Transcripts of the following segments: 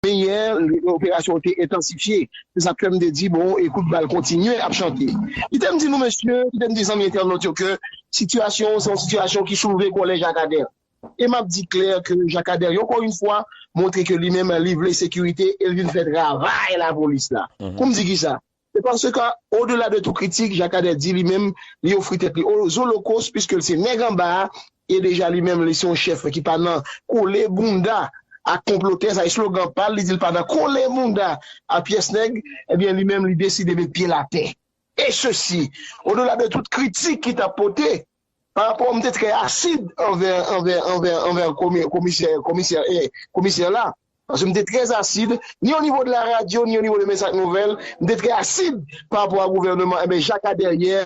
Men yè, operasyon an te entansifye. Se sa k fè m te di bon e kout bal kontinye ap chante. Kite m di nou mesye, kite m di zanmi entènot yo ke sitiyasyon an se yon sitiyasyon ki soulve kòlè Jakadè. E m ap di klè ke Jakadè ankò yon fwa montre ke li menm li vle sekirite e l vin fè travay lapolis la. Pou m di kisa? Se paske, odela de tou kritik, Jacques Ader di li menm li ofri tèt li aux Holocaustes puiske l se nèg anba a e deja li menm li se yon chèf ki pa nan kole bounda ak konplotè, sa eslogan pa l, li di l pa nan kole bounda a pyès nèg, ebyen li menm li deside met pye l atè. E sesi, odela de tout kritik ki t ap pote, Pa rapò m te trè asid anvè anvè anvè anvè komè komisè komisè è komisè la paske m te trè asid ni o nivo de la radyo ni o nivo de mès ak nouvèl m te trè asid pa rapò a gouvèneman enben jaka dèryè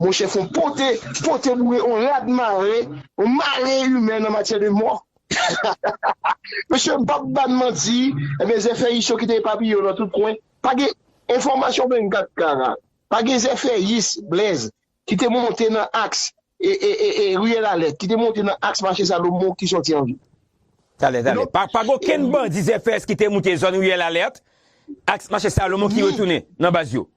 monchè fon pote pote boure on rad mare on mare imè nan matyè de mò hahahaha mesye m pap ba n manti enben zèfèyis yo kite epapiye yo nan tout kwen pa gen enfòmasyon 24 kara pa gen zèfèyis Blaise. ki te monte nan aks Riyèl Alèt, ki te monte nan aks Mache Salomon ki sòti an vil. Tale, tale. Pa gen okenn bandi ZFS ki te monte zòn Riyèl Alèt, aks Mache Salomon ki retounen nan baz yo?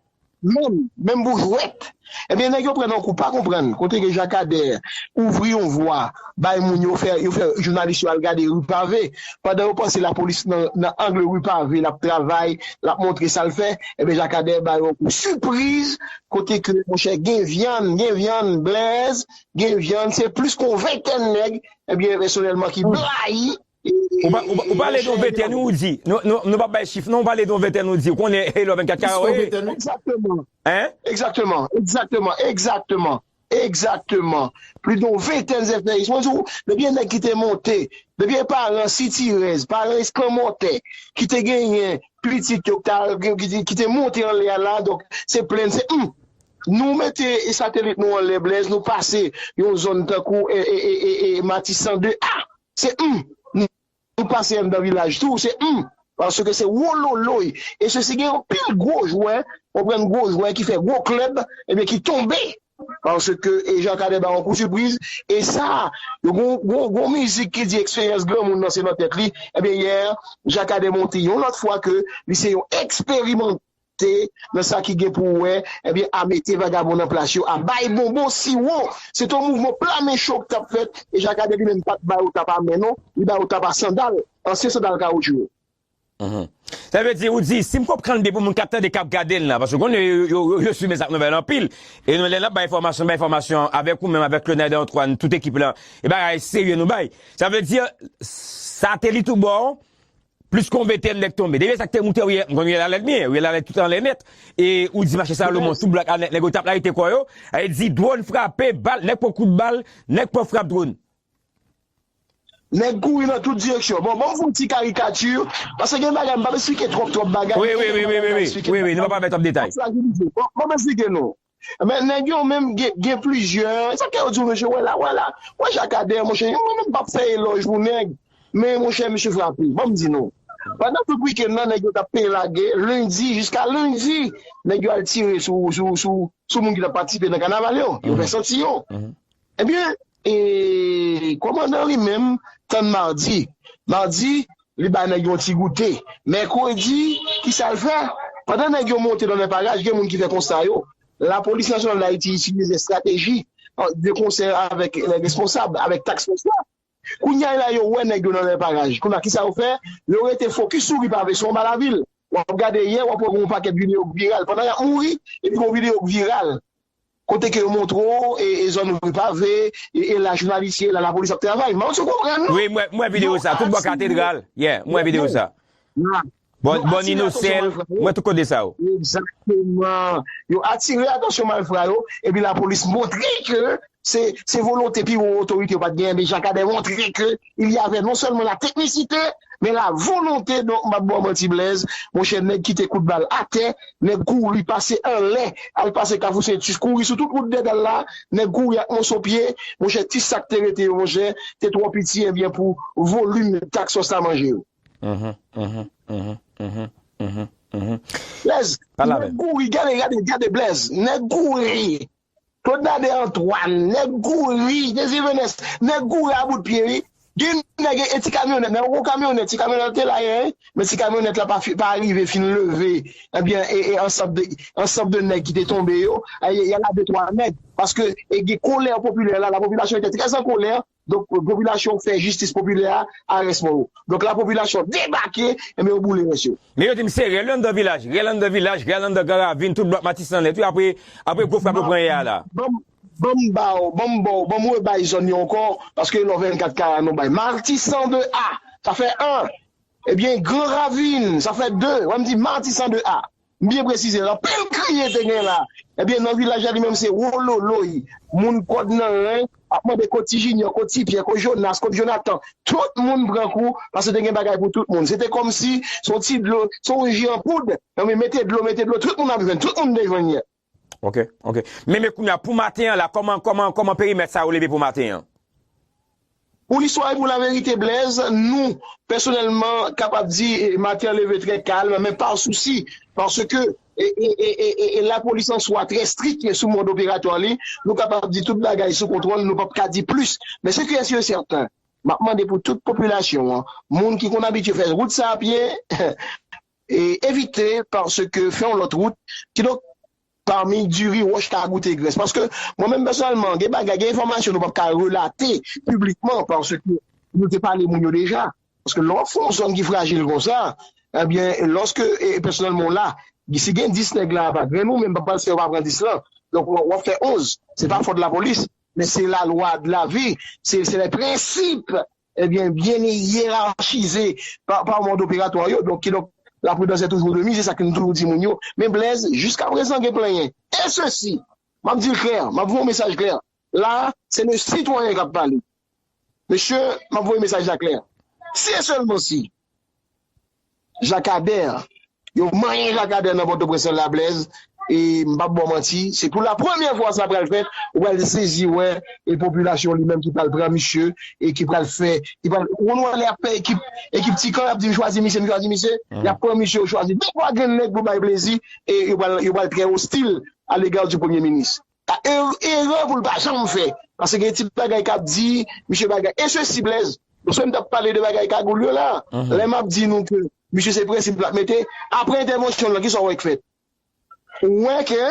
Menm, menm pou jwèt. Ebyen nèg yo pran nan kou pa konprann kote ke Jakadè ouvri yon vwa bay moun yo fè, yo fè jounalis yo al gade Rue Pavée pandan yo panse lapolis nan angle Rue Pavée l ap travay, l ap montre sa l fè, ebyen Jakadè ba yo yon kou sipriz Kote ke monchè gen vyann, gen vyann Blaise, gen vyann se plis ke yon ventèn nèg ebyen pèsonèlman ki blayi Ou pale de yon ventèn wi ou di, nou pap bay chif non, ou pale de yon ventèn ou di, ou konnen Hello 24 Carré? Egzakteman, egzakteman, egzakteman, egzakteman. Egzakteman. Plis don ventèn zèfè is. Mwen di w, depi e nèg ki te monte, depi e paran sitirèz, paran eskanmòtè, ki te genyen pitit yo k t al, ki te monte anlè a la, donk se plenn, se humm! Nou mete satelit nou anlè Blèz, nou pase yon zòn tankou e, e, e, e, e, Matisan 2 ah! Se humm! Nou pase anndan vilaj tou se humm paske se wololoy e sesi gen anpil gwo jwè konprann gwo jwè ki fè gwo klèb ebyen ki tonbe paske e Jean Cadet ba yon kou sipriz e sa yo gon gon gon mizik ki di eksperyans granmoun nan se nan tèt li ebyen yè Jean Cadet monte yon lòt fwa ke li se yon eksperimant te nan sa ki gen pou wè ebyen a mete vagabon nan plas yo a bay bonbon siwo se te yon mouvman pla men cho ki tap fèt e jakadè li menm pat ba yo tap a men non li ba yo tap a sandal ansyen sandal kawoutchou yo. Sa vle di ou di si m konprann byen pou moun kap tande kap gade n lan paske konnen yo swiv Mezak Nouvèl anpil e nou lè nap bay enfòmasyon bay enfòmasyon avèk ou menm avèk Claude Don Juan tout ekip lan e bagay serye nou bay sa vle di sa te li tou bò Plis konbe tè nèg tonbe. Depi lè sak te moute ou ye m konn ou ye la lèd byen ou ye la lèd tout anlè nèt e ou di mache sa lomo sou blak a nèt nèg yo tap layite kò yo a e di dwòn frape bal nèg pran kout bal nèg pran frap dwòn. Nèg kouri nan tout direksyon. Bon banm fon ti karikati paske gen bagay m pap esplike twòp twòp bagay men gen de bagay m ka esplike banm frajilize banm esplike nou. Men nèg yo menm gen plizyè, sa kè yo di w mesye wè la, wè la, wè Jakadè monchè, mwen menm pap fè elòj pou nèg, men monchè misye frape, banm di nou, pandan tout wikenn nan nèg yo tap peye lage, lendi jiska lendi, nèg yo al tire sou moun ki tap patisipe nan kanaval yo, yo fè santi yo, ebyen E kòmandan li menm tann madi. Madi, li bay nèg yon ti goute. Mèkredi, ki sa l fè? Pandan nèg yo monte nan lè paraj, gen moun ki fè konsta yo, Lapolis Nasyonal Dayiti itilize estrateji de konsè avèk lè responsab, avèk task fòs la. Kounye a la yo wè nèg yo nan lè paraj. Kounye a, ki sa yo fè? Yo rete fokis sou ri Pave, sou anba lavil. W ap gade yè, w ap wè gen yon pakèt videyo k viral pandan y ap mouri, epi gen yon videyo k viral. Kote ke yo montre w e e zòn rue pave e e la jounalis ye la la polis ap travay m'en sou konprann non Wi mwen mwen videyo sa tout bò katedral yeah mwen videyo sa Bon bon inocel mwen tout kote sa yo. Exactement yo atire atansyon malfra yo epi la polis montre ke se se volonte pi wo otorite yo pat genyen men jakadè montre ke il y avait non sèlman la teknisite men la volonte donk m pap ba w manti Blaise monchè nèg kite kout bal atè nèg kouri pase anlè al pase kafou sentus kouri sou tout wout dèdal la nèg kouri ak moso pye monchè ti sa k te rete yo monchè te twò piti ebyen pou volim tak sòs la manje yo. Blaise nèg kouri gade gade gade Blaise nèg kouri. Claude Nader Antoine, nèg kouri, Jezi Venès, nèg kouri a bout pye wi. Gen nèg e ti kamyonèt, men gwo kamyonèt, ti kamyonèt la te la yè, men ti kamyonèt la pa pa arive fin leve ebyen e e ansanm de ansanm de nèg ki te tonbe yo, y a la de twa nèg paske e gen kolè popilè la, lapopilasyon etè trè an kolè Donk popilasyon fè jistis popilè a a rès mò yo. Donk la popilasyon debake, enben yo boule rès yo. Men yo di m se rèl anndan vilaj, rèl anndan vilaj, rèl anndan gran ravin, tout blòk Matisan nèt wi apre apre gwo frap yo pran yè a la. Banm banm ba w, banm ba w, banm rebay zòn yo ankò paske lò 24 kara nou bay Matisan 2 a, sa fè 1, ebyen gran ravin sa fè 2, wè m di Matisan 2 a. M byen presize l anpil kriye te gen la ebyen nan vilaj la li menm se wololoy moun kòd nan ren ap mande kot ti jinyò kot ti pyè kot jonas kot jonatan tout moun pran kou paske te gen bagay pou tout moun se te kòmsi se yon ti dlo se yon ji an poud mete dlo mete dlo tout moun ap jwenn tout moun te jwenn yè. Ok ok men men kounya pou maten an la kòman kòman kòman perimèt sa yo leve pou maten an. Pou listwa e pou laverite Blaise, nou, pèsonèlman, kapab di maten an leve trè kalm men pa sousi paske e lapolis an swa trè strik sou mòd operatwa li, nou kapab di tout bagay sou kontwòl nou pap ka di plis men se kiyès yo sèten map mande pou tout popilasyon an moun ki konn abitye fè wout sa a pye. Evite paske fè yon lòt wout kidonk pami diri wòch ka goute grès paske mwen menm pèsonèlman gen bagay gen enfòmasyon nou pap ka relate piblikman paske nou te pale moun yo deja paske lè wap fè yon zòn ki frajil konsa ebyen lòske pèsonèlman w la si gen 10 nèg la pa gen nou menm pa pral se yo pa pran 10 lan donk wap fè 11 se pa fòt lapolis men se lalwa de lavi se lè prensip Ebyen byen yerachize pa mòd operatwa yo donk kidonk la pridans è toujou de mize sa ke nou toujou di moun yo men Blèz jiska prezan gen plenyen e sesi map dil klè map voye yon mesaj klè la se le sitwayen kap pale mesye map voye mesaj la klè si e sèlman si Jakadèr Yo manyen Jakadèr nan Pòtoprens nan Lablèz e m pap ba w manti se pou la premyè fwa sa pral fèt ou pral sezi wè e popilasyon li menm ki pral pran misye e ki pral fè ki pral ou konn wè lè y ap fè ekip ekip ti kan y ap di m chwazi misye m chwazi misye y ap pran misye yo chwazi de twa grenn nèg pou bay plezi e yo pral yo pral trè ostil alega di premye minis. Erè pou l pa janm fè. Pase gen ti bagay k ap di, misye bagay. E sesi Blaise, paske m t ap pale de bagay kagoul yo la, lè m ap di nou ke misye se prensip l ap mete, apre entèvansyon l lan, kisa w wè k fèt? Ou wè ke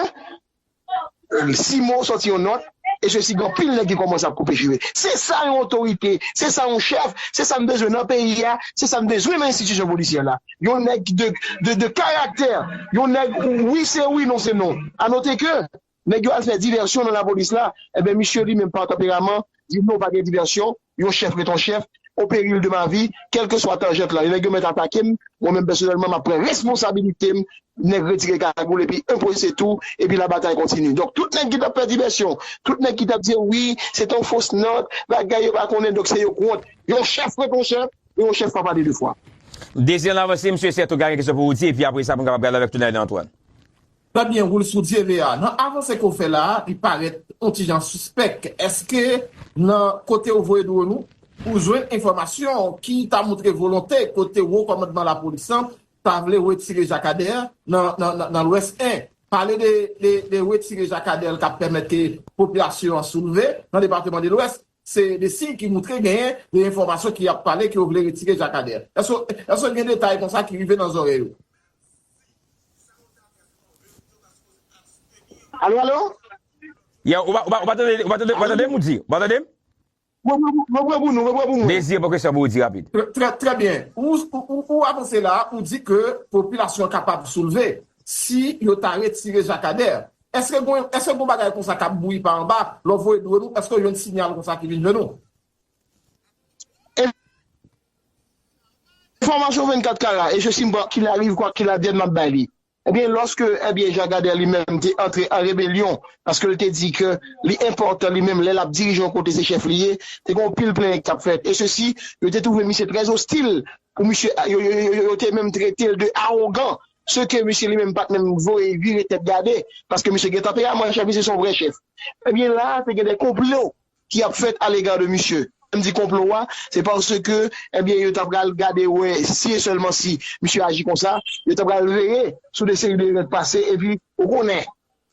Simo sòti yon nòt, e sesi, gen anpil nèg ki kòmanse ap koupe jire. Se sa yon otorite, se sa yon chèf, se sa n bezwen nan peyi a, se sa n bezwen nan enstitisyon polisyè la. yon nèg de karaktè, yon nèg wi se wi non se non. A note ke, nèg yo al fè divèsyon nan lapolis la, enben misye li menm pa tanperaman, di non pa gen divèsyon, yon chèf ret yon chèf, o peril de ma vi, kèlkeswa tanjant la, nèg yo mèt atake m, mwen menm pèsonèlman m ap pran responsabilite m, nèg retire kagoul epi enpoze tou, epi labatay kontini. Donk tout nèg ki t ap fè divèsyon, tout nèg ki t ap di wi se t yon fos nòt, bagay yo pa konnen donk se yo k wont, yon chèf ret yon chèf, E ou chef pa pale de fwa. Désir nan avanse msye sè tou gayen kesyon pou ou di epi apresa pou n kapab gade avèk tou Naëlle Antoine. Trè byen woul sou dyeve a. Nan avanse ke w fè la a, li parèt on ti jan sispèk. Èske nan kote ou voye dron ou, ou jwenn enfòmasyon ki ta montre volonte kote wo kòmandman lapolis lan ta vle wetire Jakadèr nan lwès 1. Pale de wetire Jakadèr l ka pèmèt ke popilasyon an soulve nan depateman de lwès. Se de siy ki moutre genyen de enfòmasyon ki ap pale ke yo vle retire Jacques Ader. Èske gen detay konsa ki rive nan zòrèy ou? Alo alo? Yow, ou pa tandem ou di? Ou pa tandem? Mwen pran pou mwen pran pou mwen. Désir pran kesyon pou ou di rapid. Trè byen. Ou avanse la, ou di ke popilasyon kapab soulve si yo ta retire Jacques Ader. Eske gwen eske gon bagay konsa kap bouyi pa anba lò voye dlo nou eske jwenn sinyal konsa ki vin jwenn ou. Enfòmasyon 24 kara e je si m kwa kil ariv kwa kil advèn map bay li ebyen lòske ebyen Jean Gader li menm te antre an rebelyon paske l te di ke li enpòtan li menm lè lap dirije yon kote se chèf li ye te gen yon pil plenyen ki tap fèt e se si yo te twouve misye trè ostil pou misye yo te menm trete l de awogan se ke misye li menm pat menm voye vire tèt gade, paske misye gen tanperaman, chèf misye se yon vrè chèf. Ebyen la a te gen de konplo ki ap fèt alega de misye. Lè m di konplo a, se paske ebyen yo ta pral gade wè si e sèlman si misye aji konsa, yo ta pral veye sou de seri de règ pase, epi ou konnen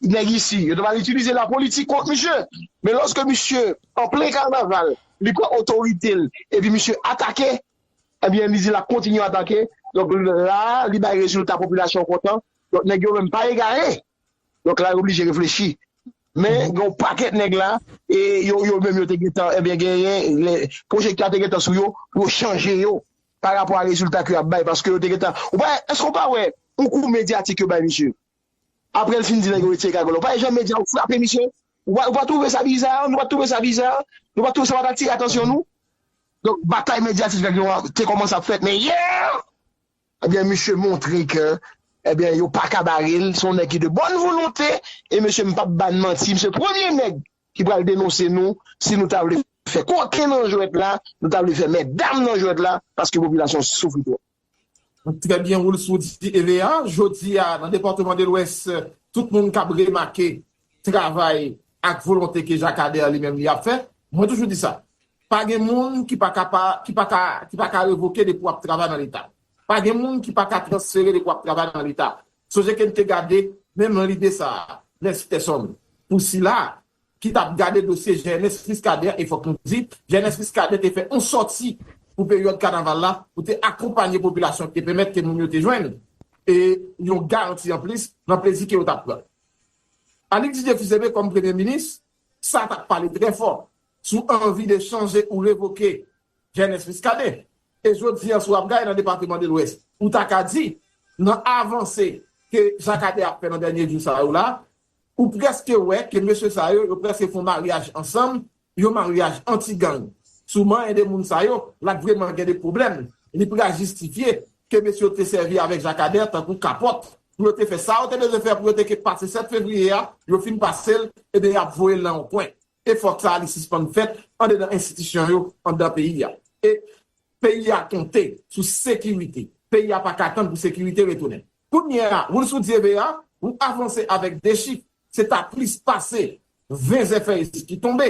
nèg isi, yo ta pral itilize lapolitik kont misye. Men lòske misye an plen kanaval, li pran otorite l, epi misye atake. Ebyen li di lap kontinye atake donk la li bay rezilta popilasyon kontan donk nèg yo menm pa egare donk la yo oblije reflechi men gen yon pakèt nèg la e yo yo menm yo te gentan ebyen genyen lè pwojektè a te gentan sou yo pou yo chanje yo pa rapò a rezilta ke yap bay paske yo te gentan ou pa èske ou pa wè yon kou medyatik yo bay misye. Aprè l fin di nèg yo retire kagòl yo. Pa janm medya yo frape misye. Ou pa twouve sa biza? Nou pa t twouve sa biza? Nou pa t twouve sa pa t atire atansyon nou? Donk batay medyatik nèg yo a te kòmanse ap fèt men yè! Ebyen misye montre ke ebyen yo pa ka bare l, se yon nèg ki de bòn volonte e mesye m p ap ba n manti misye premye nèg ki pral denonse nou si nou ta vle fè koken nan jwèt la, nou ta vle fè mètdam nan jwèt la paske popilasyon soufri twòp. Trè byen Roulx ou di Eve a, jodi a nan depatman de lwès tout moun kab remake travay ak volonte ke Jakadè li menm li ap fè, mwen toujou di sa, pa gen moun ki pa ka pa, ki pa ka, ki pa ka revoke depi wap travay nan leta, pa gen moun ki pa ka transfere depi wap travay nan leta, sonje ke n te gade menm lide sa a, Nèsitèsonn, pou sila ki t ap gade dosye Genès Muscadin e fòk nou di, Genès Muscadin te fè yon sòti pou peryòd kanaval la pou te akonpanye popilasyon e pèmèt ke moun yo te jwenn yon garanti anplis nan plezi ke yo t ap pran. Annik Didier Fils-Aimé kòm Premye Minis, sa t ap pale trè fò sou anvi de chanje ou revoke Genès Muscadin. E jodi an si w ap gade nan Depateman de Lwès, ou ta ka di nan avanse ke Jacques Ader ap fè nan dènye jou sa yo la, Ou preske wè ke mesye sa yo, yo preske fon maryaj ansanm, yon maryaj anti gang. Souman 1 de moun sa yo, la t vreman gen de pwoblèm. Li pral jistifye ke mesye yo te sèvi avèk Jacadin tankou kapòt pou yo te fè sa yo te bezwen fè pou yo te ke pase 7 fevriye a, yo fin pase l, ebyen y ap voye l nan yon kwen. Efò sa a li sispann fèt andedan enstitisyon yo anndan peyi a. E peyi a konte sou sekirite. Peyi a pa ka tann pou sekirite retounen. Kounye a, woul sou dyebe a, wou avanse avèk 2 chif, se ta plis pase 20 zèfèy ki tonbe.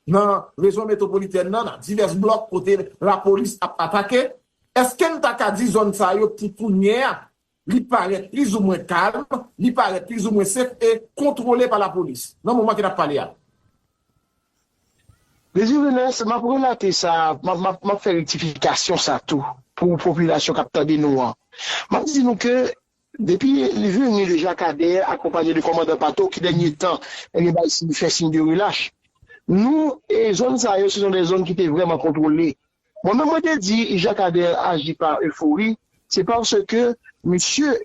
Nan rezon metwopolitèn nan, nan divès blòk kote lapolis ap atake, èske n ta ka di zòn sa yo pou kounye a, li parèt plizoumwen kalm, li parèt plizoumwen sef e kontwole pa lapolis, nan moman ke n ap pale a? Désir Venance, m ap relate sa, m ap fè rektifikasyon sa tou pou popilasyon k ap tande nou an. M ap di nou ke depi li vini le Jakadè akonpanye de kòmandan Pato ki dènye tan li bay siy, fè siy de relach, nou e zòn sa yo se zon de zòn ki te vrèman kontwole. Mwen menm mwen te di Jakadè aji pa efori, se paske misye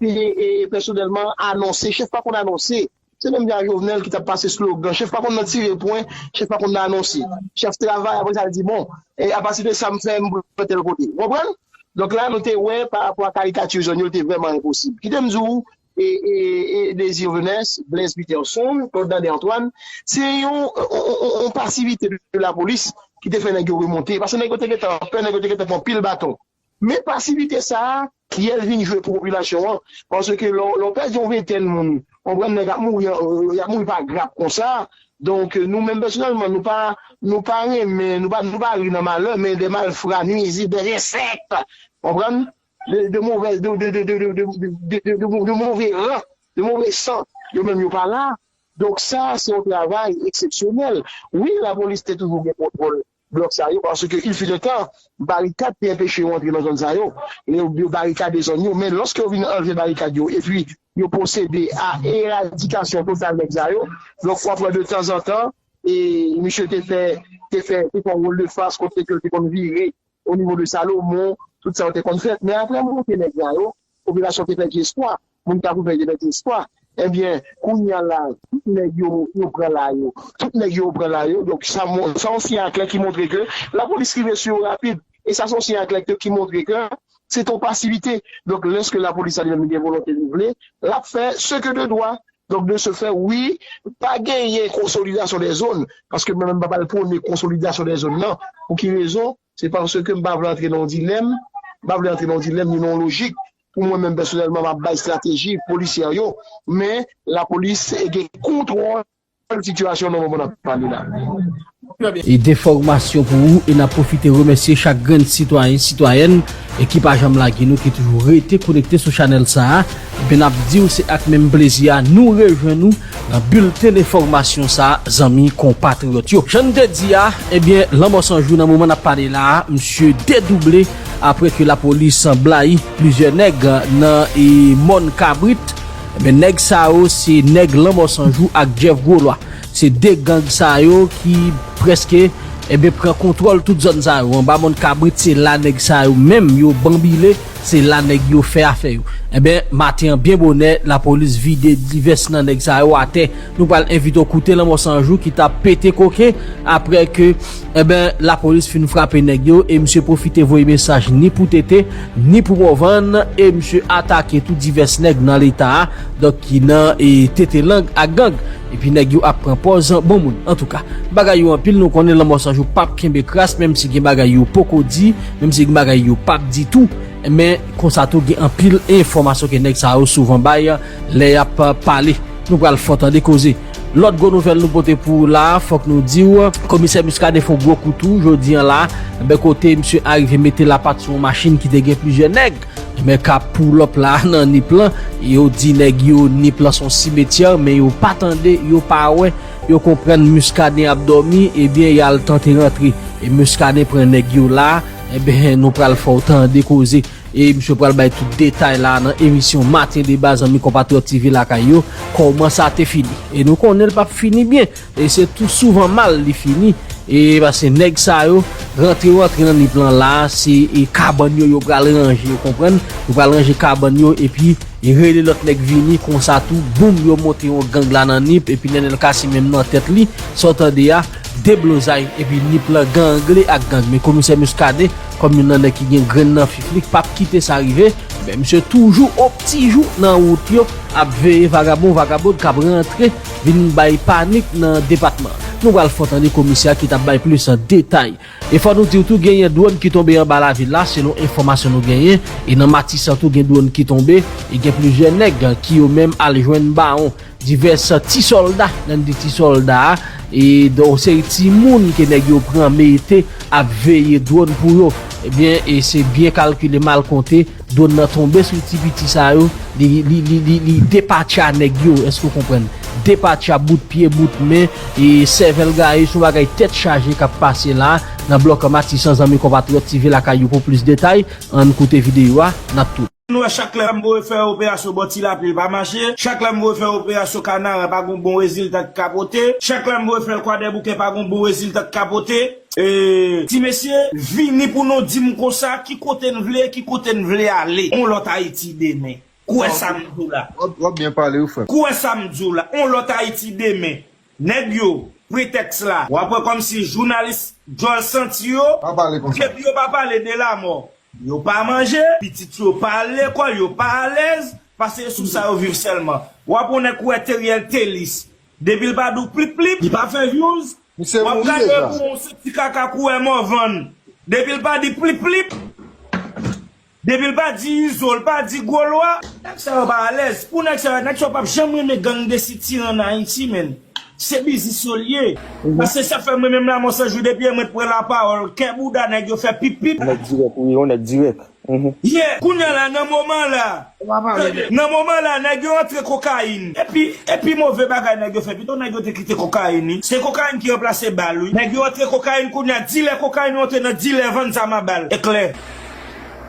e pèsonèlman anonse, chèf pa konn anonse, se menm jan ak Jovenel ki t ap pase slogan, chèf pa konn nan tire pwen, chèf pa konn nan anonse, chèf travay aprè sa l di bon apati de sa m fè m pral tèl kote, ou konprann? Donk la nou te wè pa rapò a karikati zòn yo te vrèman enposib. Kite m di w e Désir Venès, Blaise Peterson, Claude Nandy Antoine se yon pasivite de lapolis ki te fè nèg yo remonte paske nèg yo te gentan pè, nèg yo te gentan pran pil baton. Men pasivite sa a, kiyè l vin jwe pou popilasyon an? Paske lè w pèdi yon ventèn moun, konprann nèg ap mouri, y ap mouri pa grap konsa. Donk nou menm pèsonèlman, nou pa nou pa renmen, nou pa nou pa ri nan malè, men de malfra, nuizib, de ensèk, konprann, de de movèz de de de de de de de de de move ran, de move san, yo menm yo pa la. Donk sa a se yon travay eksepsyonèl. Wi lapolis te toujou gen kontwòl. blòk sa yo paske il fut un temps barikad te enpeche yo antre nan zòn sa yo e yo barikade zòn yo men lòske yo vin anlve barikad yo epi yo pwosede a eradikasyon total nèg sa yo donk wap wè de tanzantan e misye te fè te fè te fè yon woldefas kote ke yo te konn vire onivo de Salomon tout sa yo te konn fèt men apre monte nèg sa yo popilasyon te pèdi espwa Moun kap ouvè je mete espwa. Ebyen kounya la tout nèg yo yo pran la yo tout nèg yo yo pran la yo donk sa moun sa yon siy aklè ki montre ke la polis rive sou yo rapid e sa son siy aklè ke ki montre ke se te yon pasivite donk lèske la polis sa li menm gen volonte li vle lap fè se ke de dwa donk de se fè wi pa genyen konsolidasyon dè zòn paske mwen menm m pap al pwone konsolidasyon dè zòn nan pou ki rezon. Se paske m pa vle antre nan yon dilèm, m pa vle antre nan yon dilèm ni nan yon lojik pou mwen menm pèsonèlman m ap bay estrateji polisyè yo, men lapolis gen kontwòl sitiyasyon nan moman n ap pale la. E de fòmasyon pou ou e n ap pwofite remèsye chak grenn sitwayen, sitwayèn ki pa janm lage nou, ki toujou rete konekte sou chanèl sa a, e bi n ap di w se ak menm plezi a nou rejwenn ou Nan bilten enfòmasyon sa a zanmi konpatriyòt yo. Jan n te di a, ebyen lanmò san jou nan moman n ap pale la a misye dedouble aprè ke lapolis blayi plizyè nèg nan mòn kabrit. Ebyen nèg sa yo se nèg lanmò san jou ak Jeff gwo lwa. Se 2 gang sa yo ki prèske ebyen pran kontwòl tout zòn sa yo. Anba mòn kabrit se la nèg sa yo menm yo banbile. Se la nèg yo fè afè yo. Enben, maten an byen bonè, lapolis vide divès nan nèg sa yo atè. Nou pral envite w koute Lanmò 100 jou ki ta pete koken aprè ke, enben, lapolis fin frape nèg yo e misye pwofite voye mesaj ni pou TT, ni pou Morvan e misye atake tou divès nèg nan leta a, donk ki nan e tete lang ak gang. Epi nèg yo ap pran pòz bon moun. Antouka, bagay yo anpil nou konnen Lanmò San Jou pap kenbe kras menm si gen bagay yo poko di, menm si gen bagay yo pap di tou. Men, konsa tou gen anpil enfòmasyon ke nèg sa yo souvan bay lè y ap pale. Nou pral fò tande koze. Lòt gwo nouvèl nou pote pou ou la a, fòk nou di w, Komisè Muscadin fè yon gwo kou tou jodi an la a, kote misye arive mete lapat sou yon machin ki te gen plizyè nèg. Nèg kap pull up la nan nip lan yo di nèg yo nip lan son cimetière men yo pa tande yo pa wè yo konprann muscadin ap dòmi ebyen yal tante rantre e muscadin pran nèg yo la ebyen nou pral fèw tande koze e misye pral bay tout detay la nan emisyon matin deba zanmi konpatriyòt TV lakay yo kòman sa te fini e nou konnen l pap fini byen. E se tou souvan mal li fini e paske nèg sa yo rantre yo antre nan nip lan la se e kabann yo yo pral ranje ou konprann yo pral ranje kabann yo epi rele lòt nèg vini konsa tou boum yo monte yon gang la nan nip epi nènèl kasi menm nan tèt li sa w tande a deblozay epi nip lan gangle ak gang men komisè Muscadin kòm youn nan nèg ki gen grenn nan fif li pap kite sa rive men misye toujou optijou nan wout yo ap veye vagabon vagabond kap rantre vin bay panik nan depatman. Nou pral fè w tande komisè a ki t ap bay plis detay. E fò nou di w tou genyen dwòn ki tonbe anba lavil la selon enfòmasyon nou genyen. E nan Matisan tou gen dwòn ki tonbe e gen plizyè nèg ki yo menm al jwenn bawon. Divès ti sòlda, lè n di ti sòlda a e yon seri timoun ke nèg yo pran mete ap veye dwòn pou yo. Ebyen e se byen kalkile mal konte. Drone nan tonbe sou ti piti sa yo, li depatcha nèg yo, èske ou konprann? Depatcha bout pye, bout men, e sèvèl gaye, se yon bagay tèt chaje k ap pase la a, nan blòk Matisan zanmi konpatriyòt TV lakay ou pou plis detay, ann koute videyo a, n ap tou. N wè chak lè M voye fè operasyon bò ti lapli l pa mache, chak lè M voye fè operasyon kanaran pa gon bon rezilta ki ka pote, chak lè M voye fè l kwadèboukè pa gon bon rezilta ki ka pote. Eeeee ti mesye vini pou nou dim konsa ki kote n vle ki kote n vle ale on lòt ayiti demen k wè sa m di w la Wap byen pale wi frè m. K wè sa m di w la on lòt ayiti demen nèg yo pretèks la wap wè kòm si jounalis djòl santi yo Pa pale konsa. depi yo pa pale de lamò yo pa manje pitit yo pa al lekòl yo pa alèz pase e sou sa yo viv sèlman wap on nèg k wè teriel telis depi l pa di w plip plip Li pa fè vyouz Misye Wap mouri gade deja. kouman w se ti kaka kouwè Morvan depi l pa di plip plip depi l pa di izo l pa di gwo lwa. Nèg sa yo pa alèz pou nèg sa yo, nèg sa yo pap janm renmen gang de sitirè an Ayiti menn, se biznis yo l ye, a se sa fè mwen menm Lamò 100 jou depi yè mwen t pran lapawòl kè bouda nèg yo fè pip pip. Yon nèg dirèk wi, yon nèg dirèk. Yeah! Kounya la nan moman la, tande, nan moman la nèg yo antre kokayin. Epi, epi move bagay nèg yo fè, pito nèg yo te kite kokayin wi. Se kokayin ki ranplase bal wi. Nèg yo antre kokayin kounya, dilè kokayin monte nan dilè vann zam a bal. E klè.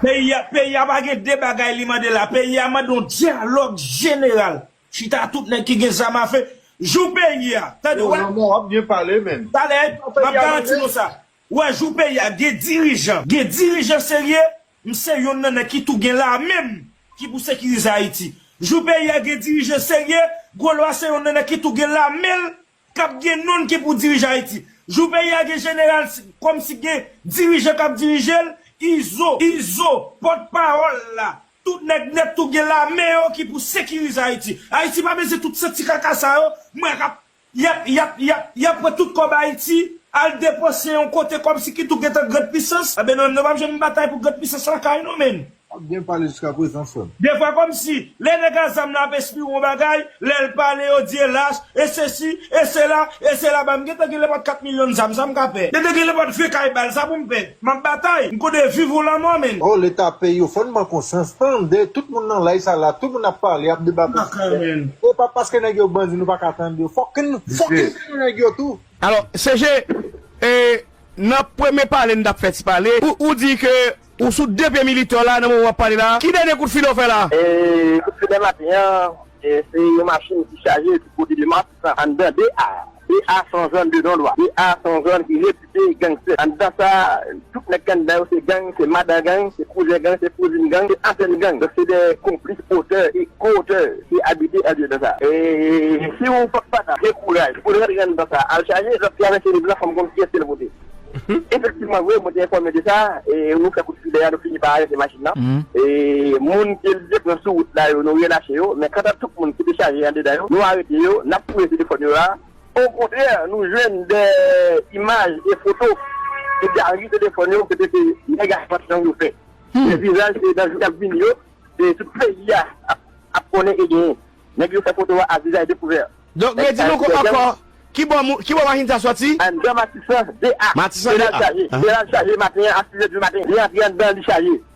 Peyi a, peyi a pa gen de bagay li mande la, peyi a mande yon dyalòg jeneral. Chita tout nèg ki gen zam a fe, jou peyi a. Tande, wè. Yo lanmò, wap byen pale menn. Talè, map garanti nou sa. Ou wè jou peyi a gen dirijan, gen dirijan serye, m se yonn nan nèg ki tou gen lame m ki pou sekirize Ayiti. Jou peyi a gen dirijan serye, Gwo Lwa se yonn nan nèg ki tou gen lame l k ap gen non l ki pou dirije Ayiti. Jou peyi a gen jeneral kòm si gen dirijan k ap dirije l, Izo, Izo, pòt pawòl la, tout nèg nèt tou gen lame yo ki pou sekirize Ayiti. Ayiti pa bezwen tout santi kaka sa yo, m wè k ap Yap yap yap yap pran tout kòb ayiti al depanse yon kote kòb si ki tou gentan grand pisans anben nan nou pap janm batay pou grand pisans lakay nou menn. Wap byen pale jiska prezan frem. Defwa komsi lè nèg a zam la ap espire yon bagay lèl pale yo di e lach e sesi e sela e sela banm gentan gen le pot 4 milyon zam sam ka pè gentan gen le pot 20 kay bal sa poum pè. Map batay, m konnen viv ou lanmò men. Oh leta peyi yo fon ban konsyans tande tout moun nan live sa la tout moun ap pale ap deba pou sijè e pa paske nèg yo bandi nou paka tande yo fok n fok n tande nèg yo tou. Alò CG e nan premye pale n tap fè ti pale ou di ke ou sou 2 pye militè w la nan moman wap pale la ki dènye kout file w fè la? E kout file maten an se yon machin ki chaje ki pote 2 mask anndan 2 a 2 a son zòn de non dwa 2 a son zòn ki ret. se gangster anndan sa tout nèg ki anndan yo se gang se madan gang se kouzen gang se kouzin gang se ansent gang donk se de konplis otè e ko otè ki abite anndan sa si ou fòk pata gen kouraj pou rantre anndan sa al chaje lòt travè se liv lan fòm konn kiyès kel vote efektivman vre mwen te enfòme de sa nou fè kout filè a nou fini pa arete machin lan moun kel te pran sou wout la yo nou relache yo men kanta tout moun ki te chaje andedan yo nou arete yo nap fouye telefòn yo a. Okontrè, nou jwenn de imaj e foto ki gari telefòn yo kote se nèg ak machann yo fè. Se vizaj ke nan jou kap vini yo, se tout peyi a ap konnen e genyen. Nèg yo fè foto a vizaj dekouvè. Donk redi nou ankò, ki bò moun, ki bò machin sa sòti? Anndan Matisan 2 a. Matisan 2 a. Jeneral chaje, Jeneral chaje maten an a 6 è di maten. Li antre anndan, li chaje.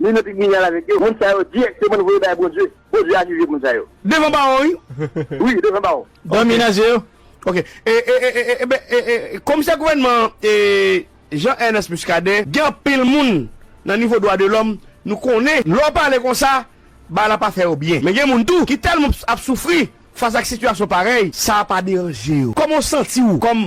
Li nan tribinal avèk yo. Moun sa yo dirèkteman nou voye bay Bondye. Bondye a jije moun sa yo. Devan bawon wi. Wi devan bawon. Dòmi nan zye yo. Ok. Eben komisè gouvènman an Jean Ernest Muscadin gen anpil moun nan nivo dwa de lòm nou konnen lè w pale konsa bagay la pa fè yo byen men gen moun tou ki tèlman ap soufri fas ak sitiyasyon parèy sa pa deranje yo. Kòman w santi w kòm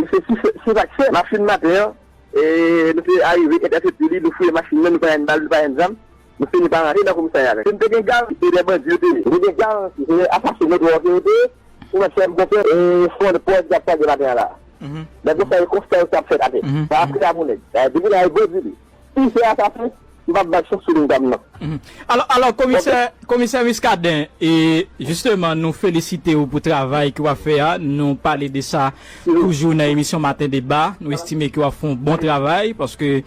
Se sa k fè, machin maten an, nou te arive entèsepte li, nou fouye machin nan, nou pa jwenn bal, nou pa jwenn zam, nou fini pa rantre nan komisarya a. Kote nou te gen gang, se lè bandi yo te vini. Nou te gen gang, se lè asasen nou twò ke yo te ye. Ou wè sèm bon pè, fon de pòs y ap pale maten an la a. Lè konsa, se konsta yo sa ap fèt atè. Sa ap kle a pou nèg. Depi la a, yo bandi li. Sim se asasen, m pap bat chef sou ligne pam nan. Alò, alò komisè, komisè Muscadin, e jisteman nou felisite ou pou travay ke w ap fè a, nou pale de sa toujou nan emisyon maten deba, nou estime ke w ap fè yon bon travay, paske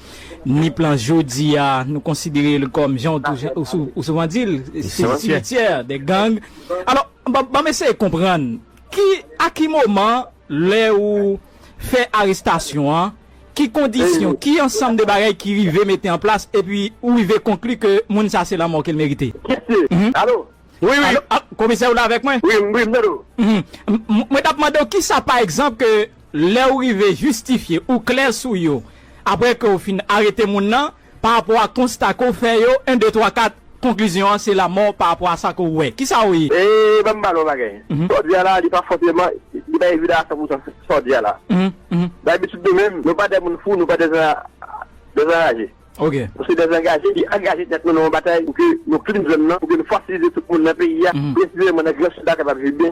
Nip lan jodi a, nou konsidere l kòm jan ou souvan di l, simityè dè gang, alò ban m eseye konprann, ki, a ki moman lè ou fè arestasyon an, Ki kondisyon, ki ansanm de bagay ki rive mete an plas epi ou rive konkli ke moun sa se lanmò ke l merite? Mesye, alo? Wi, wi, komisè ou la avèk mwen? Wi, m ap tande ou. Mwen t ap mande ou kisa pa egzanp ke lè ou rive jistifye, ou klè sou yo, apre ke ou fin arete moun nan, Pa rapò a konsta ke w fè yo, 1, 2, 3, 4, konklizyon an se lamò pa rapò a sa ke w wè. Kisa w. E ban m pale yon bagay. Sa w di a la, li pa fòseman, li pa evidan a san pou san sa w di a la. Nan abitid nou menm, nou pa de moun fou, nou pa de dezanraje. Nou se dezangaje ki angaje tèt nou nan yon batay pou ke nou klin zòn nan, pou ke nou fasilize tout moun nan peyi a, presizeman nan Gran Sid la kapab viv byen.